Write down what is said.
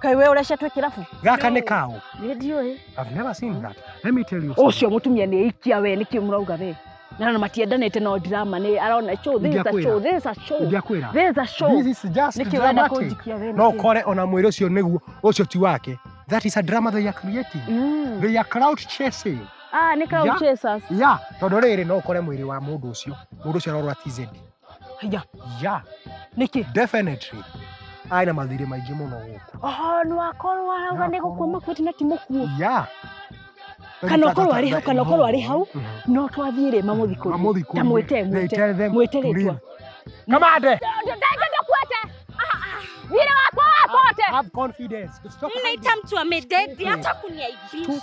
Kai wewe ũrecetwe kĩrabu. Gaka nĩ kaũ? Nĩ ndiũĩ. I've never seen that. Let me tell you. Ũcio mũtumia nĩ ikia we nĩkĩ mũrauga we. Na na matiendanĩte no drama nĩ arona show this is a Ndiakwĩra. show this is a show. Ndiakwĩra. This is a show. This is just Nĩkĩ ũrenda dramatic. kũnjikia we No nĩkĩ? ũkore ona mwĩrĩ ũcio nĩguo ũcio ti wake. That is a drama they are creating. Mm. They are crowd chasing. Ah, nĩ Yeah. crowd chasers. Yeah, tondũ rĩrĩ no ũkore mwĩrĩ wa mũndũ ũcio. Mũndũ ũcio arorwa TZ. Haya. ya Niki. definitely arĩ na mathirĩ maingĩ mũno gũkũ Oh, nĩ wakorwo arauga nĩ gũkua makuĩte na ti mũkuo. ya Kana ũkorwo arĩ hau, kana ũkorwo arĩ hau. Mhm. No twathiĩ rĩ mamũthikũrie. Mamũthikũrie. Ta mwĩte, mwĩte. Tell them Mwĩte to rĩtwa. leave. kamande Ndũkuĩte. Thirĩ wakwa wakote. have confidence Stop hiding. Mnaita mtu amededi hata kuniaibisha.